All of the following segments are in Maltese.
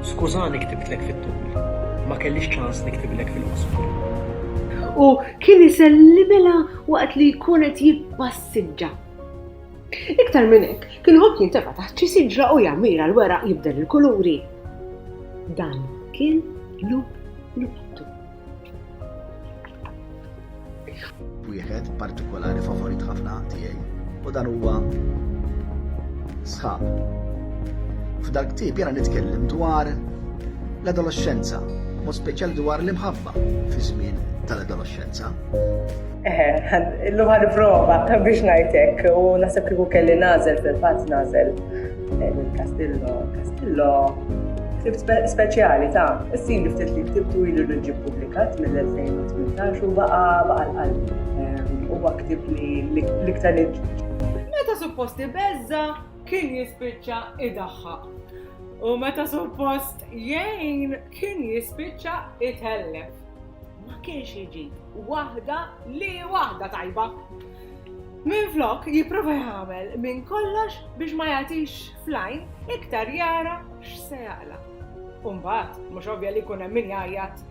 Skużani ktibtlek fit-tul. Ma kellix ċans niktiblek fil-qosor. U kien isellimela waqt li jkun qed jippassiġġa. Iktar minn hekk, kien ħobb jintefa' taħt xi siġra u jammira l-weraq jibdel il-kuluri. Dan kien lup luptu. Wieħed partikolari favorit ħafna tiegħi u dan huwa sħab. F'dak tip jena nitkellem dwar l-adolescenza, u speċjal dwar l-imħabba fi żmien tal-adolescenza. Illum ħad prova biex ngħidlek u naħseb kieku kelli nażel fil-fatt nażel Edwin Castillo, Castillo, ktibt speċjali ta' s-sin li ftit li ktibtu ilu li ġib publikat mill-2018 u baqa baqa l-qalb. Ehm, u ktib li l-iktar li Meta supposti bezza kien jispiċċa idaħħa. U meta suppost jgħin kien jispiċċa itellef. Ma kienx iġi waħda li waħda tajba. Minflok jipprova jagħmel minn kollox biex ma jagħtix fl-għajn, iktar jara x'se jaqla'. U mbagħad, mhux ovvja li jkun hemm min jgħajjat,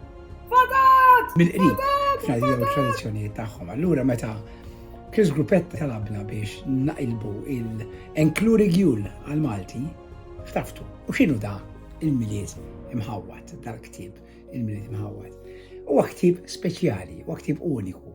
Fadat! Mill-qrib, fl-għadida u t-tradizzjonijiet tagħhom. Allura meta Chris Gruppetta talabna biex naqilbu il-Enklu Rigjul għall-Malti, ħtaftu. U x'inhu da il-Milied Imħawwad, dal-ktieb, il-Milied Imħawwad? Huwa ktieb speċjali, huwa ktieb uniku.